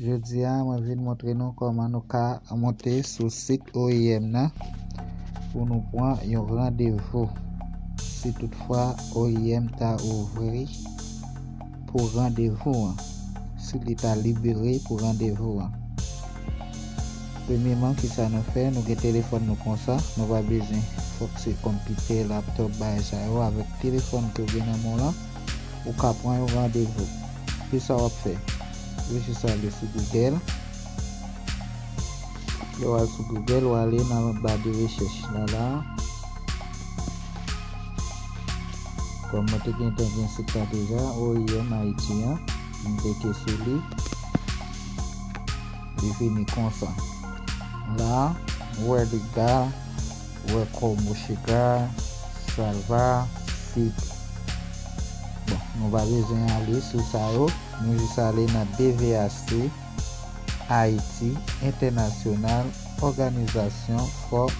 Jodi a mwen vin montre nou kòman nou ka monte sou sit oim nan pou nou pran yon randevou si tout fwa oim ta ouvri pou randevou an si li ta libere pou randevou an premyeman kisa nou fè nou gen telefòn nou konsa nou pa bezwen fòk se konpitè laptòp bagay sa yo avèk telefòn ke ou gen nan men w lan ou ka pran yon randevou kisa wap fè. Rejis sa ale sou Google. Lè w al sou Google, w ale nan ba de rechèch la la. Kòm mwen te gentan gen sit la deja, OIM Ayiti an, m klike sou li. Li vini konsa. La, w wè Liga, w wè Comusica, Salva, Site. Bon, nou pa bezwen ale sou sa yo. Nou jis ale nan DVHC, Ayiti, Entènasyonal, Òganizasyon for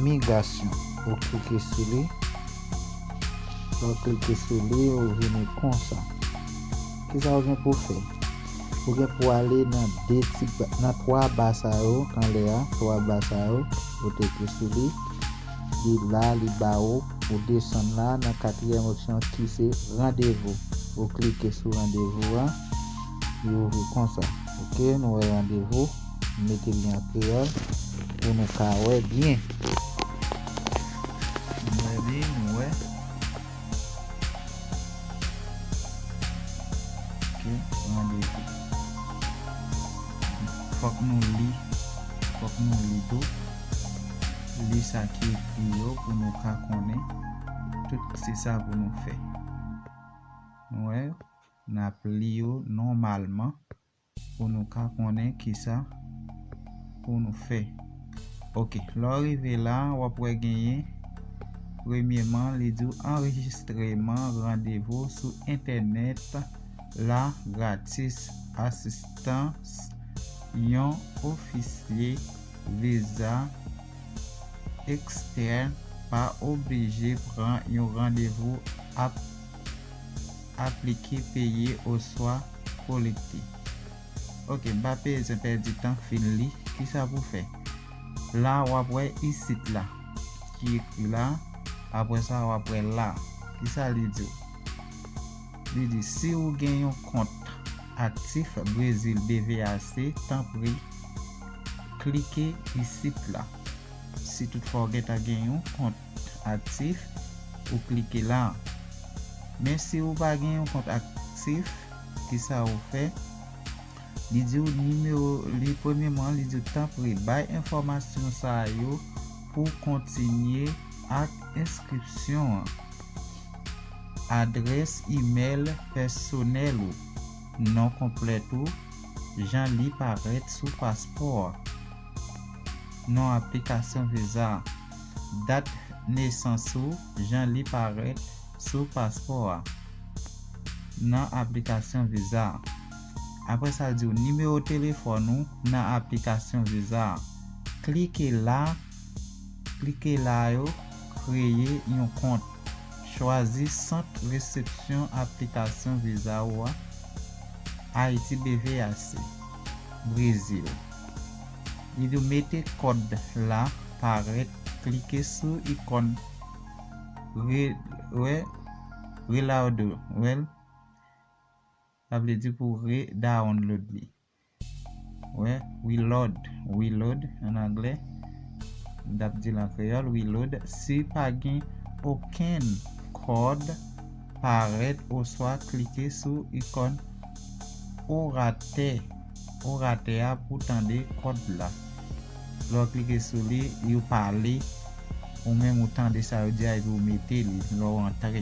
Migrasyon. Ou klike sou li. Lè ou klike sou li, ou vini konsa. Kisa ou gen pou fè? Ou gen pou ale nan 2 ti, nan 3 ba sa yo, anlè a, 3 ba sa yo, ou klike sou li. li la li ba ou ou desann la nan katriyèm opsyon kise randevou ou klike sou randevou a li ouvri konsa ok nou wè randevou m mete li an kreyòl pou nou ka wè byen nou wè li nou wè ok randevou fòk nou li fòk nou li tou Li sa ki ekri yo pou nou ka konnen tout se sa pou nou fè. Nou wè, n ap li yo nòmalman pou nou ka konnen ki sa pou nou fè. Ok, lè w rive la, w ap wè genyen premyeman li di w anrejistreman randevou sou entènèt la gratis asistans yon ofisye. Viza Ekstèn pa oblije pran yon randevou ap aplike, peye oswa kolekte. Ok, m pa bezwen pèdi tan fin li kisa pou fè. La w ap wè isit la ki ekri la, apre sa w ap wè la. Kisa li di w? Li di si w gen yon kont aktif Brezil BVAC, tanpri Klike isit la. Si tout fwa ou gentan gen yon kont aktif, ou klike la. Men si ou pa gen yon kont aktif, ki sa ou fè? Li di ou nimewo, li premyeman li di ou tanpri bay enfòmasyon sa yo pou kontinye ak enskripsyon an. Adrès imèl pèsonèl ou. Non konplèt ou, jan li parèt sou paspò a. Non aplikasyon viza. Dat nesans ou, jan li parèt sou paspò a. Nan aplikasyon viza. Apre sa l di ou nimewo telefòn ou nan aplikasyon viza. Klike la, klike la yo kreye yon kont. Chwazi sant resepsyon aplikasyon viza ou a, Ayiti BVAC, Brezil. Li do mete kòd la parèt klike sou ikon re-download li. Wè, we load, we load an anglè, m t ap di l an kreyòl, we load, si pa gen okenn kòd parèt oswa klike sou ikòn oratè oratè a pou tande kòd la. Lè w klike sou li, yo pale, ou menm ou tande sa yo di a epi ou mete li lè w antre.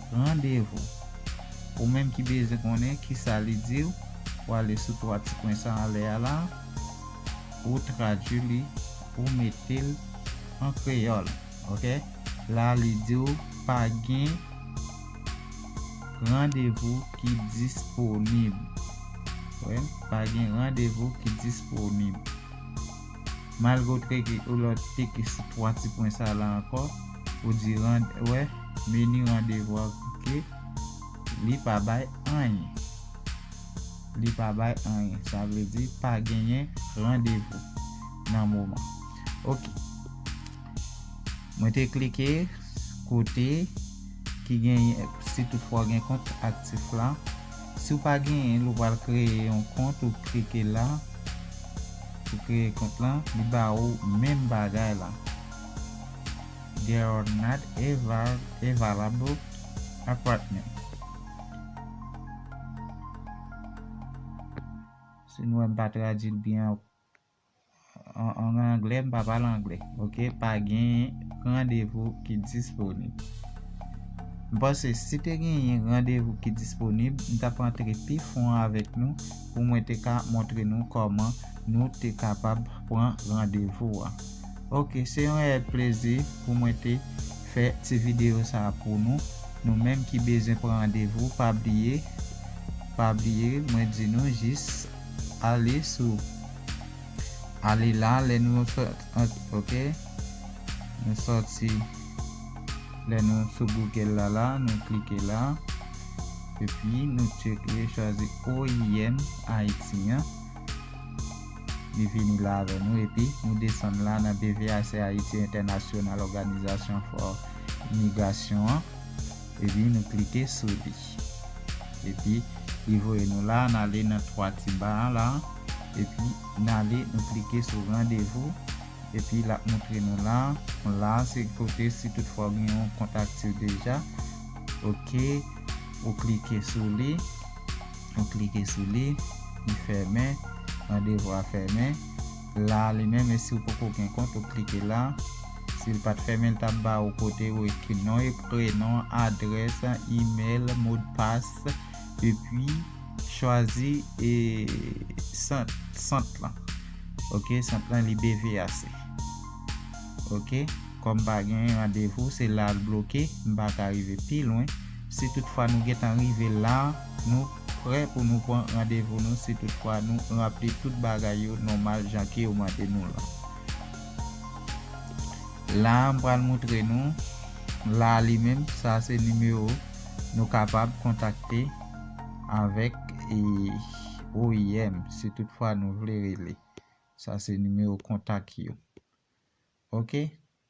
Randevou. Ou menm ki bezwen konnen kisa li di w, ou ale sou 3 ti pwen sa anlè a la, ou tradui li, ou mete l an kreyòl. Ok. La li di w pa gen randevou ki disponib. Ou wè? Pa gen randevou ki disponib. Malgotre ke ou lòt teke sou 3 ti pwen sa la ankò, ou di rand wè, menu rendez-vous ke li pa bay anyen. Li pa bay anyen. Sa vle di pa genyen randevou nan moman. Ok. Mwen te klike kote ki genyen si tout fwa gen kont aktif la. Si w pa genyen l ou pral kreye yon kont ou klike la pou kreye kont la li ba ou menm bagay la There are not available apartments Si nou wè m pa tradui l byen anko. An anglè m pa pale anglè ok pa gen randevou ki disponib m panse si te gen yon randevou ki disponib m tap antre pi fon avèk nou pou mwen te ka montre nou kòman nou te kapab pran randevou a ok se yon rèyèl plezi pou mwen te fè ti videyo sa a pou nou nou menm ki bezwen pran randevou pa bliye pa bliye mwen di nou jis Ale sou Ale la lè nou ok nou sòti lè nou sou Google la la nou klike la epi nou tcheke chwazi oim Ayiti an li vini la avè nou epi nou desann la nan BVAC Ayiti Entènasyonal Òganizasyon fò Migrasyon an epi nou klike sou li. Epi li voye nou la, n ale nan 3 ti ba an la, epi n ale nou klike sou randevou, epi l ap moutre nou la, la a se kote si tout fwa ou gen yon kont aktif deja, ok, ou klike sou li, ou klike sou li, li fèmen, randevou a fèmen. La li menm e siw poko gen kont ou klike la sil pat fèmen li tap ba ou kote ou ekri non e prenon adrès email modpas epi chwazi e sant sant lan ok sant lan li bvas ok kòm pa gen randevou se la l bloke m paka rive pi lwen si tout fwa nou gentan rive la. Nou prè pou nou pran randevou nou si tout fwa nou ranpli tout bagay yo nòmal jan ke yo mande nou lan. La a m pral moutre nou, la a li menm sa a se nimewo nou kapab kontakte avèk oim si tout fwa nou vle rele. Sa se nimewo kontak yo. Ok.